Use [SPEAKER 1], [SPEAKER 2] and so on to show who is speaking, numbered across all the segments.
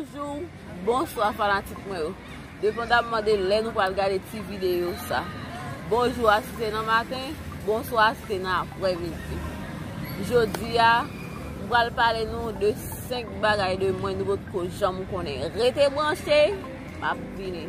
[SPEAKER 1] Bonjou, bonswa fanatik mwen yo Depandamman de lè nou pral gade ti videyo sa Bonjou a si se nan maten, bonswa a si se nan aprè midi Jodi a, m pral pale nou de 5 bagay de mwen nou potko janm konnen Rete branche, m ap vini.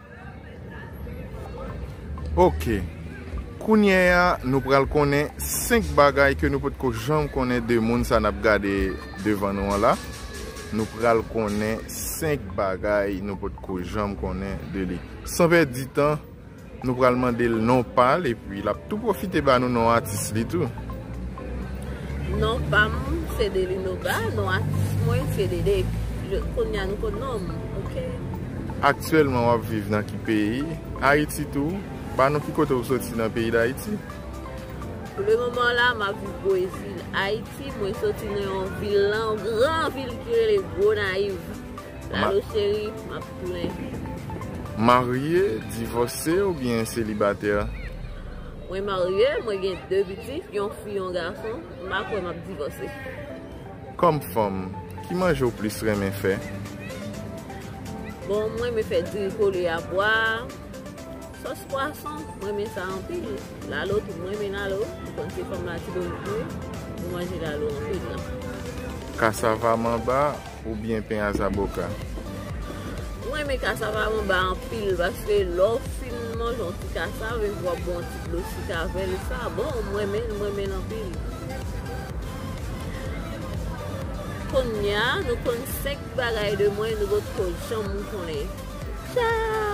[SPEAKER 2] Ok, kounye a nou pral konnen 5 bagay ke nou potko janm konnen de moun sa nap gade devan nou an la Nou pral konnen 5 bagay nou potko janm konnen de li San pèdi tan, nou pral mande l non pa l epi lap tou pwofite ba nou non atis li tou.
[SPEAKER 1] Non pam se delino ba non atis mwen se dede kounya nou konn non m ok.
[SPEAKER 2] Aktyèlman wap viv nan ki peyi? Ayiti tou? Ba nou ki kote ou soti nan peyi dayiti? Pou
[SPEAKER 1] le moman la map viv bwezil ayiti mwen soti nan yon vil nan yon gran vil ki rele gonayiv lalo cheri map tounen.
[SPEAKER 2] Marye, divòse oubyen selibatè? Mwen
[SPEAKER 1] marye, mwen gen 2 pitit, yon fi yon gason, m pa kwè m ap divòse. Kòm
[SPEAKER 2] fanm, ki manje w plis renmen fè? Bon,
[SPEAKER 1] m renmen fè diri kole a pwa, sòs pwason, m renmen sa anpil. Lalo tou, m renmen lalo, m konn se fanm Latibonit mwen, m manje lalo anpil. Kasava
[SPEAKER 2] manba. Ou byen pen a zaboka.
[SPEAKER 1] M renmen kasava manba anpil paske lè w fin manje yon ti kasav epi wap bwè yon ti dlo sik avèl sa bon m renmen l m renmen l anpil Konnya nou konn 5 bagay de mwen nou potko janm konnen Ciao.